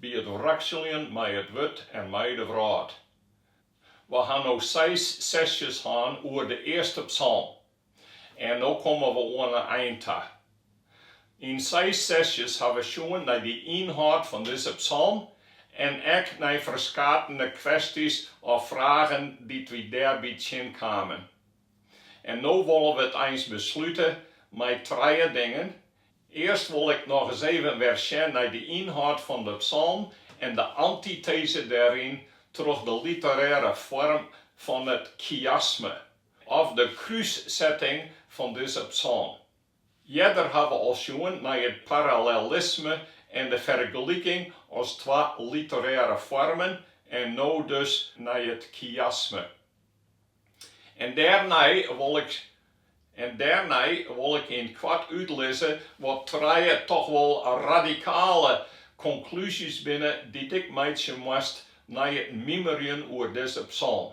By it wrakseljen mei it wurd en mei de wrâld. We ha no seis sesjes hân oer de earste psalm en no komme we oan in ein ta. Yn seis sesjes ha we sjoen nei de ynhâld fan dizze psalm en ek nei ferskatene kwestys of fragen dy't we dêrby tsjin kamen. En no wolle we it eins beslute mei trije dingen, Earst wol ik nochris even wer sjen nei de ynhâld fan de psalm en de antiteze dêryn troch de literêre foarm fan it chiasme, of de krússetting fan dizze psalm. Earder ha we al sjoen nei it parallelisme en de fergeliking as twa literêre foarmen en no dus nei it chiasme. En dêrnei wol ik yn it koart útlizze wat trije toch wol radikale konklúzjes binne dy't ik meitsje moast nei it mimerjen oer dizze psalm.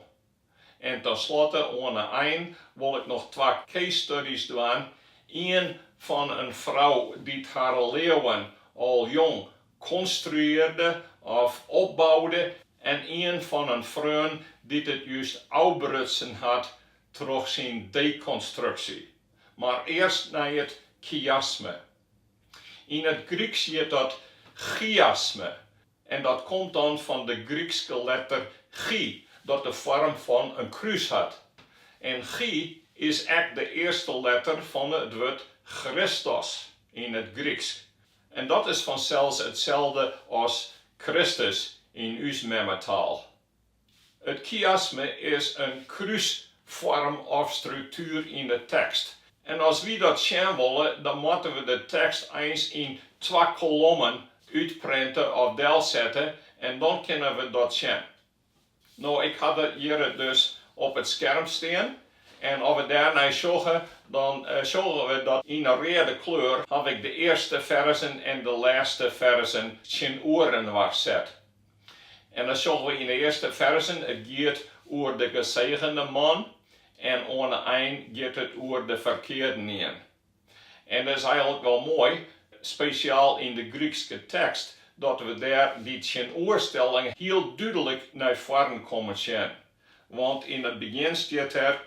En tenslotte oan 'e ein wol ik noch twa case studies dwaan, ien fan in frou dy't har leauwen al jong konstruearde of opboude en ien fan in freon dy't it just ôfbrutsen hat troch syn dekonstruksje, mar earst nei it kiasme. Yn it Gryksk hjit dat chiasme en dat komt dan fan de Grykske letter chi, dat de foarm fan in krús hat. En chi is ek de earste letter fan it wurd Christos yn it Gryksk, En dat is fansels itselde as Kristus yn ús memmetaal. It kiasme is in krúsfoarm of struktuer yn de tekst. En as wy dat sjen wolle, dan moatte we de tekst eins yn twa kolommen útprinte of delsette en dan kinne we dat sjen. No, ik ha dat hjir dus op it skerm stean. En as we dêrnei sjogge, dan sjogge we dat yn 'e reade kleur haw ik de earste ferzen en de lêste ferzen tsjinoerinoar set. En dan sjogge we yn 'e earste ferzen, it giet oer de gesegende man en oan 'e ein giet it oer de ferkeardenien. En dat is eigenlik wol moai, spesjaal yn de Grykske tekst, dat we dêr dy tsjinoerstelling hiel dúdlik nei foaren kommen sjen. Want yn it begjin stiet der,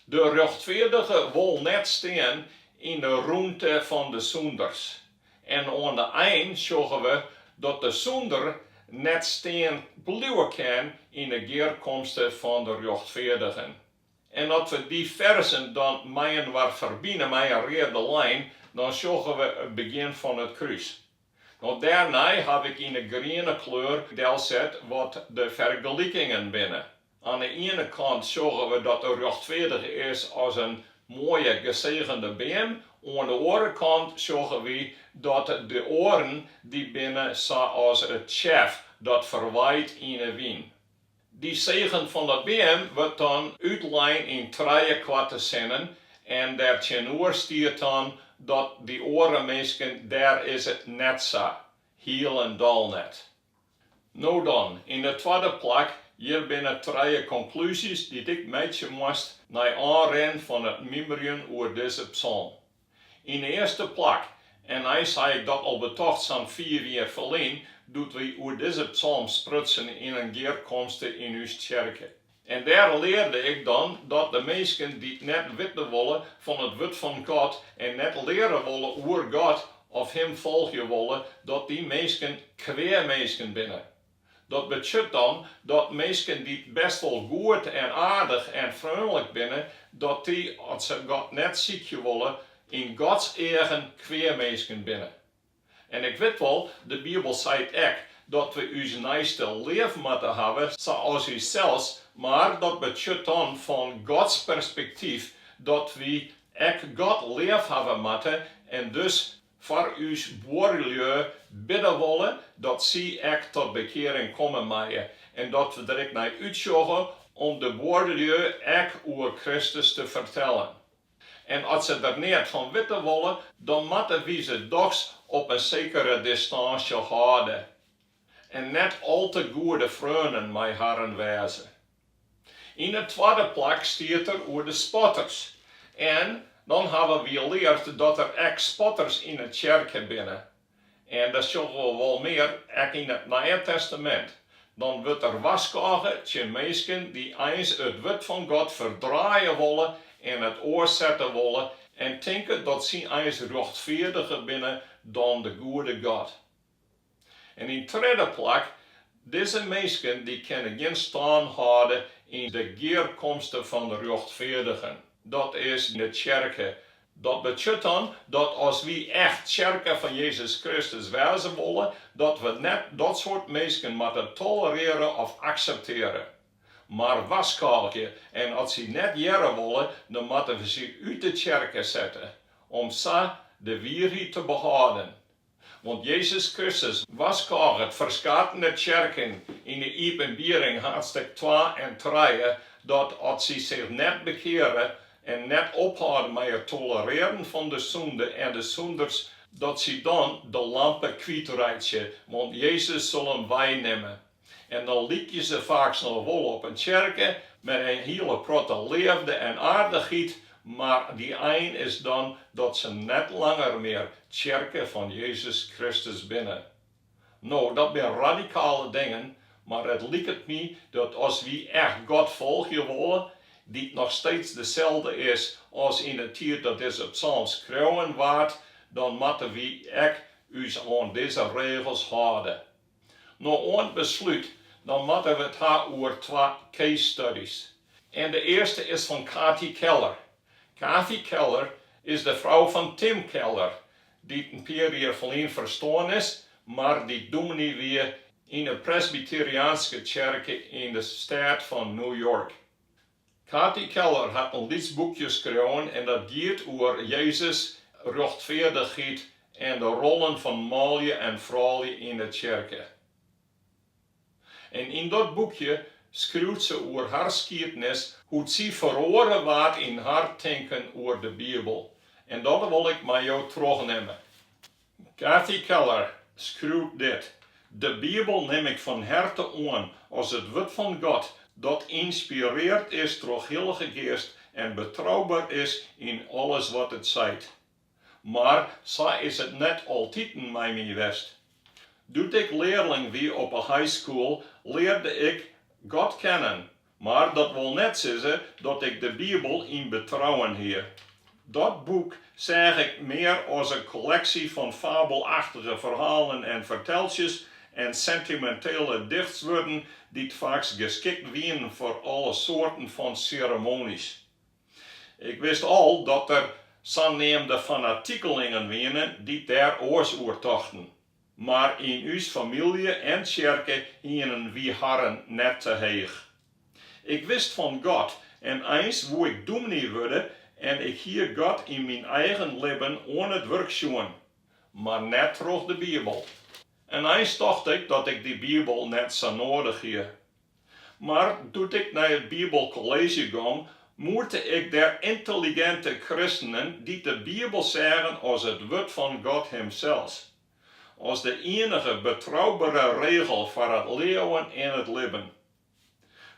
De rjochtfeardige wol net stean yn de rûnte fan de sûnders. En oan de ein sjogge we dat de sûnder net stean bliuwe kin yn 'e gearkomste fan de rjochtfeardigen. En as we dy ferzen dan mei-inoar ferbine mei in reade lijn, dan sjogge we it begjin fan it krús. No dêrnei haw ik yn 'e griene kleur delset wat de fergelikingen binne. Oan 'e iene kant sjogge we dat de rjochtfeardige is as in moaie gesegende beam, oan 'e oare kant sjogge wy dat de oaren dy binne sa as it tsjef dat ferwaait yn 'e wyn. Dy segen fan de beam wurdt dan útlein yn trije koarte sinnen en dêrtsjinoer stiet dan dat dy oare minsken dêr is it net sa, hielendal net. No dan, yn de twadde plak, hjir binne trije konklúzjes dy't ik meitsje moast nei oanrin fan it mymmerjen oer dizze psalm. Yn de earste plak, en eins hie ik dat al betocht sa'n fiif jier ferlyn, doe't wy oer dizze psalm sprutsen yn in gearkomste yn ús tsjerke. En dêr learde ik dan dat de minsken dy't net witte wolle fan it wurd fan God en net leare wolle oer God of Him folgje wolle, dat dy minsken kwea minsken binne. Dat betsjut dan dat minsken dy't bêst wol goed en aardich en freonlik binne, dat dy, as se God net sykje wolle, yn Gods eagen kwea minsken binne. En ik wit wol, de Bibel seit ek dat we ús neiste leaf moatte hawwe sa as ússels, mar dat betsjut dan fan Gods perspektyf dat wy ek God leaf hawwe moatte en dus foar ús buorlju bidde wolle dat sy ek tot bekearing komme meie en dat we der ek nei útsjogge om de buorlju ek oer Kristus te fertellen. En as se der neat fan witte wolle, dan moatte wy se dochs op in sekere distânsje hâlde en net al te goede freonen mei harren wêze. Yn de twadde plak stiet der oer de spotters. En dan hawwe wy leard dat der ek spotters yn 'e tsjerke binne. En dat sjogge we wol mear ek yn it Nije Testamint. Dan wurdt der warskôge tsjin minsken dy't eins it wurd fan God ferdraaie wolle en it oarsette wolle en tinke dat sy eins rjochtfeardiger binne dan de goede God. En yn tredde plak, dizze minsken dy kinne gjin stân hâlde yn de gearkomste fan de rjochtfeardigen, dat is, de tsjerke. Dat betsjut dan dat as wy echt tsjerke fan Jezus Kristus wêze wolle, dat we net dat soart minsken moatte tolerearje of akseptearje. Mar warskôgje, en as sy net hearre wolle, dan moatte we sy út de tsjerke sette, om sa de wierheid te behâlden. Want Jezus Kristus warskôget ferskatene tsjerken yn 'e Iepenbiering haadstêk twa en trije dat as sy sich net bekeare en net ophâlde mei it tolerearjen fan de sûnde en de sûnders, dat sy dan de lampe kwytreitsje, want Jezus sil him weinimme. En dan lykje se faaks noch wol op in tsjerke, mei in hiele protte leafde en aardichheid, mar de ein is dan dat se net langer mear tsjerke fan Jezus Kristus binne. No, dat binne radikale dingen, mar it liket my dat as wy echt God folgje wolle, dy't noch steeds deselde is as yn 'e tiid dat dizze psalm skreaun waard, dan moatte wy ek ús oan dizze regels hâlde. No ta beslút, dan moatte we 't ha oer twa case studies. En de earste is fan Kathy Keller. Kathy Keller is de frou fan Tim Keller, dy't in pear jier ferlyn ferstoarn is, mar dy't dûminy wie yn 'e Presbyteriaanske tsjerke yn de steat fan New York. Kathy Keller hat in lyts boekje skreaun en dat giet oer Jezus, rjochtfeardichheid en de rollen fan manlju en froulju yn de tsjerke. En yn dat boekje skriuwt se oer har skiednis, hoe't sy feroare waard yn har tinken oer de Bibel. En dat wol ik mei jo trochnimme. Kathy Keller skriuwt dit, De Bibel nim ik fan herte oan as it wurd fan God, dat ynspireard is troch Hillige Geast en betrouber is yn alles wat it seit. Mar sa is it net altiten mei my west. Doe't ik learling wie op 'e high school learde ik God kennen, Mar dat wol net sizze dat ik de Bibel yn betrouwen hie. Dat boek seach ik mear as in kolleksje fan fabelachtige ferhalen en fertelsjes en sintimintele dichtswurden dy't faaks geskikt wienen foar alle soarten fan seremonys. Ik wist al dat der saneamde fanatikelingen wienen dy't dêr oars oer tochten. Mar yn ús famylje en tsjerke hienen wy harren net te heech. Ik wist fan God en eins woe ik dûmny wurde en ik hie God yn myn eigen libben oan it wurk sjoen, mar net troch de Bibel. En eins tocht ik dat ik dy Bibel net sa noadich hie. Mar doe't ik nei it Bibelkolleezje gong, moete ik dêr yntelliginte kristenen dy't de Bibel seagen as it Wurd fan God Himsels, as de ienige betroubere regel foar it leauwen en it libben.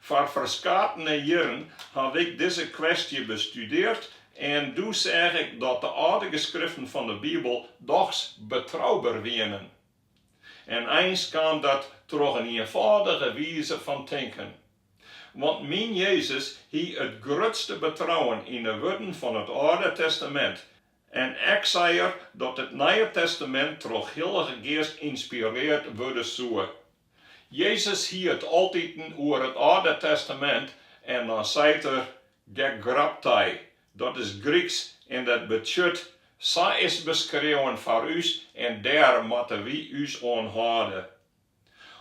Foar ferskatene jierren haw ik dizze kwestje bestudeard en doe seach ik dat de âlde geskriften fan de Bibel dochs betrouber wienen. En eins kaam dat troch in ienfâldige wize fan tinken. Want myn Jezus hie it grutste betrouwen yn de wurden fan it Alde Testamint, en ek sei er dat it Nije Testamint troch de Hillige Geast ynspireard wurde soe. Jezus hie it altiten oer it Alde Testamint en dan seit er, gegraptai, Dat is Gryksk en dat betsjut, Sa is 't beskreaun foar ús en dêr moatte wy ús oan hâlde.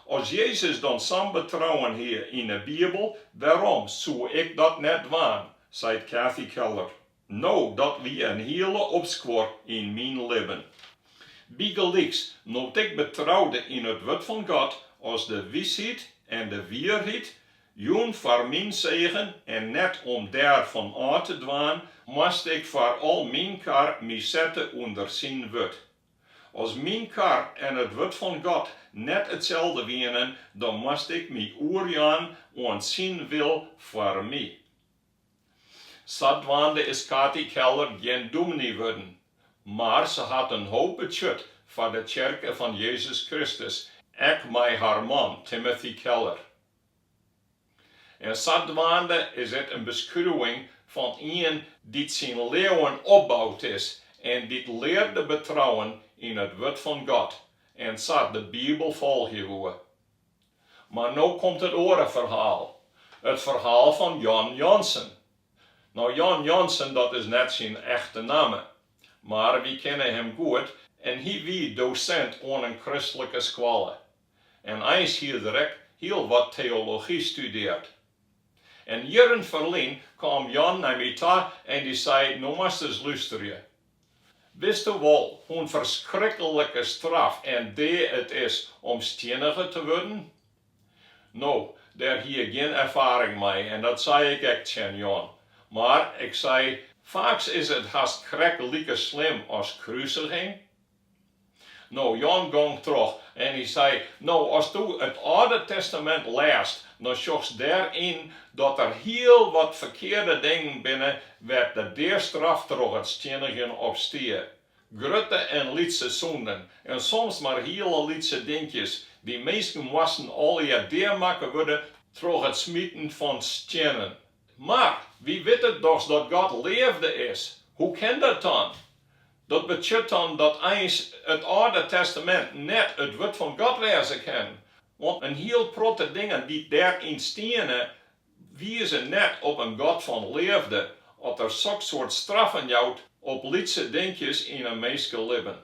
As Jezus dan sa'n betrouwen hie yn 'e Bibel, wêrom soe ik dat net dwaan? seit Kathy Keller. No, dat wie in hiele opskuor yn myn libben. Bygelyks, no't ik betroude yn it Wurd fan God as de wysheid en de wierheid, jûn foar myn segen en net om dêr fan ôf te dwaan, moast ik foar al myn kar my sette ûnder syn wurd. As myn kar en it wurd fan God net itselde wienen, dan moast ik my oerjaan oan syn wil foar my. Sadwaande is Kathy Keller gjin dûmny wurden, mar se hat in hoop betsjut foar de Tsjerke fan Jezus Kristus, ek mei har man Timothy Keller. En sadwaande is dit in beskriuwing fan ien dy't syn leauwen opboud is en dy't learde betrouwen yn it wurd fan God en sa de Bibel folgje woe. Mar no komt it oare ferhaal, it ferhaal fan Jan Jansen. No Jan Jansen dat is net syn echte namme, mar wy kinne him goed en hy wie dosint oan in kristlike skoalle. en eins hie er ek hiel wat teology studeard. En jierren ferlyn kaam Jan nei my ta en dy sei, no moatst ris lusterje. Witsto wol hoe'n ferskrikkelike straf en dea it is om stienige te wurden? No, dêr hie ik gjin erfaring mei en dat sei ik ek tsjin Jan, mar ik sei, faaks is it hast krekt like slim as krusiging. No, Jan gong troch en hy sei, No, asto it Alde Testamint lêst, dan sjochst dêr yn dat der hiel wat ferkearde dingen binne wêr't de deastraf troch it stiennigjen op stie. Grutte en lytse sûnden, en soms mar hiele lytse dinkjes, dy minsken moasten allegear dea makke wurde troch it smiten fan stiennen. Mar wy witte dochs dat God leafde is. Hoe kin dat dan? Dat betsjut dan dat eins it Alde Testamint net it Wurd fan God wêze kin, want in hiel protte dingen dy't dêryn steane, wize net op in God fan leafde, as Er soksoart straffen jout op lytse dinkjes yn in minskelibben.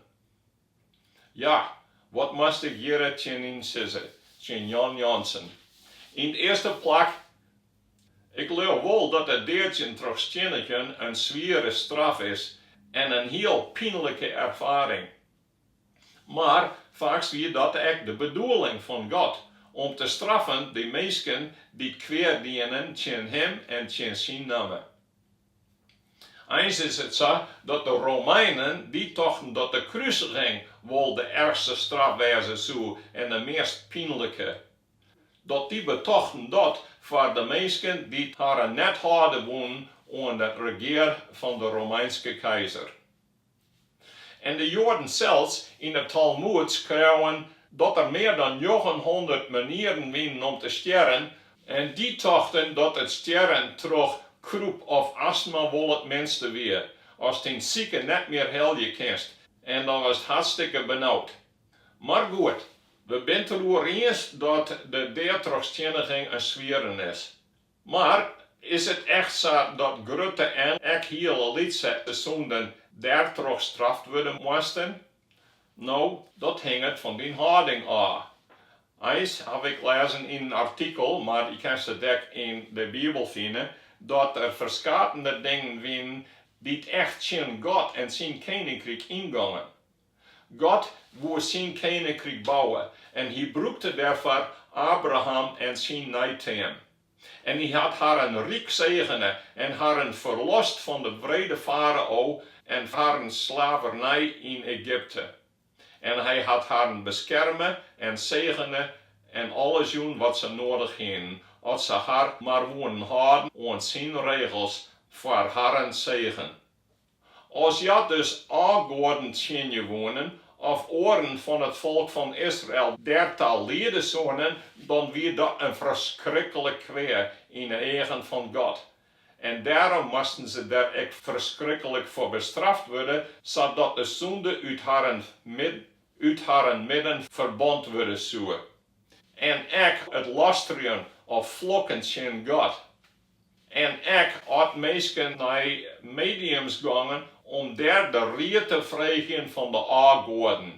Ja, wat moast ik hjir tsjinyn sizze, tsjin Jan Jansen. Yn 't earste plak, ik leau wol dat it deadsjen troch stiennigjen in swiere straf is en in hiel pynlike erfaring. Mar faaks wie dat ek de bedoeling fan God, om te straffen dy minsken dy't kwea dienen tsjin Him en tsjin Syn namme. Eins is it sa dat de Romeinen dy tochten dat de krusiging wol de ergste straf wêze soe en de meast pynlike, dat dy betochten dat foar de minsken dy't harren net hâlde woenen oan de regear fan de Romeinske keizer. En de Joaden sels yn 'e Talmoed skreauwen dat der mear dan njoggenhûndert manieren wienen om te stjerren, en dy tochten dat it stjerren troch kroep of astma wol it minste wie, ast dyn sike net mear helje kinst, en dan wurdst hartstikke benaud. Mar goed, we bin 't deroer iens dat de dea troch stienniging in swieren is. Mar is it echt sa dat grutte en ek hiele lytse sûnden dêrtroch straft wurde moasten? No, dat hinget fan dyn hâlding ôf. Eins haw ik lêzen yn in artikel, mar je kinst it ek yn de Bibel fine, dat der ferskatende dingen wienen dy't echt tsjin God en syn keninkryk yngongen. God woe syn keninkryk bouwe en hy brûkte dêrfoar Abraham en syn neiteam. En hy hat harren ryk segene en harren ferlost fan de wrede farao en harren slavernij yn Egypte. En hy hat harren beskerme en segene en alles jûn wat se noadich hienen, as se har mar woenen hâlden oan syn regels foar harren segen. As hja dus ôfgoaden tsjinje woenen, of oaren fan it folk fan Israel dêrta liede soene, dan wie dat in ferskriklik kwea yn 'e eagen fan God. En dêrom moasten se der ek ferskriklik foar bestraft wurde, sadat de sûnde út harren midden ferbant wurde soe. En ek it lastrjen of flokken tsjin God, En ek as minsken nei mediums gongen om dêr de ried te freegjen fan de ôfgoaden.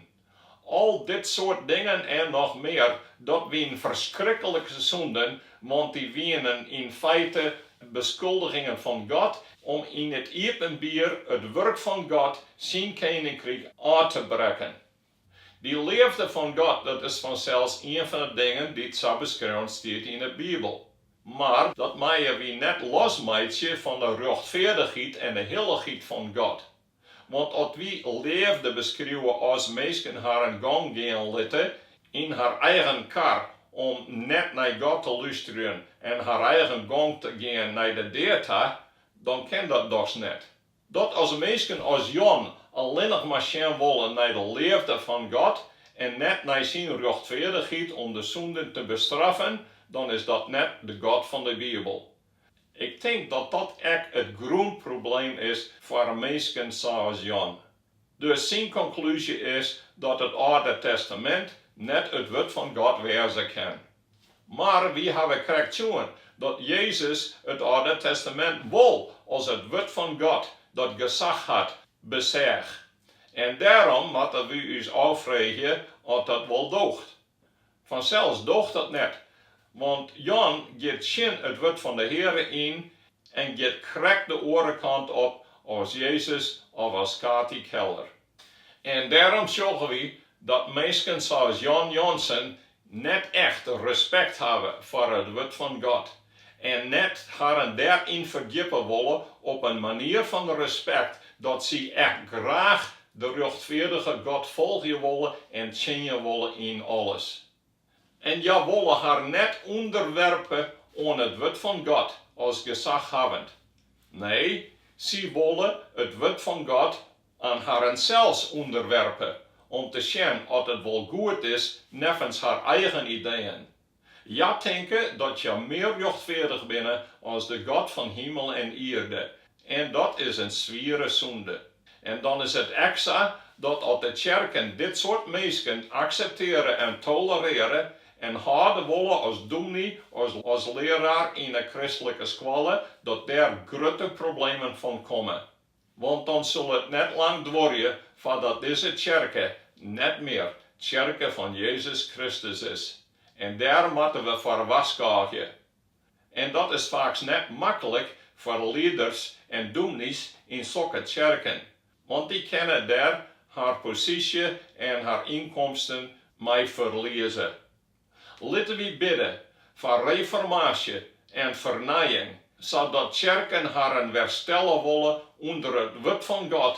Al dit soart dingen en noch mear, dat wienen ferskrikkelike sûnden, want dy wienen yn feite beskuldigingen fan God om yn it iepenbier it wurk fan God, syn keninkryk, ôf te brekken. Dy leafde fan God, dat is fansels ien fan 'e dingen dy't sa beskreaun stiet yn 'e Bibel. Mar dat meie wy net losmeitsje fan 'e rjochtfeardichheid en 'e hillichheid fan God. Want as wy leafde beskriuwe as minsken harren gong gean litte yn har eigen kar om net nei God te lústerjen en har eigen gong te gean nei de dea ta, dan kin dat dochs net. Dat as minsken as Jan allinnich mar sjen wolle nei de leafde fan God en net nei syn rjochtfeardichheid om de sûnden te bestraffen, dan is dat net de God fan de Bibel. Ik tink dat dat ek it grûnprobleem is foar minsken sa as Jan. Dus syn konklúzje is dat it Alde Testamint net it wurd fan God wêze kin. Mar wy hawwe krekt sjoen dat Jezus it Alde Testamint wol as it Wurd fan God, dat gesach hat, beseach. En dêrom moatte wy ús ôffreegje oft dat wol doocht. Fansels doocht dat net, want Jan giet tsjin it Wurd fan de Heare yn en giet krekt de oare kant op as Jezus of as Kati Keller. En dêrom sjogge wy dat minsken sa as Jan Janssen net echt respekt hawwe foar it Wurd fan God en net harren dêryn ferdjippe wolle op in manier fan respekt dat sy echt graach de rjochtfeardige God folgje wolle en tsjinje wolle yn alles. En hja wolle har net ûnderwerpe oan it wurd fan God as gesaghawwend. Nee, sy wolle it wurd fan God oan harren sels ûnderwerpe, om te sjen oft it wol goed is neffens har eigen ideeën. Hja tinke dat hja mear rjochtfeardich binne as de God fan himel en ierde, En dat is in swiere sûnde. En dan is it ek sa dat as de tsjerken dit soart minsken akseptearje en tolerearje en hâlde wolle as dûmny of as learaar yn 'e kristlike skoalle, dat dêr grutte problemen fan komme. Want dan sil it net lang duorje foardat dizze tsjerke net mear tsjerke fan Jezus Kristus is. En dêr moatte we foar warskôgje. En dat is faaks net maklik foar lieders en dûmnys yn sokke tsjerken, want dy kinne dêr har posysje en har ynkomsten mei ferlieze. Litte wy bidde foar reformaasje en fernijing, sadat tsjerken harren wer stelle wolle ûnder it Wurd fan God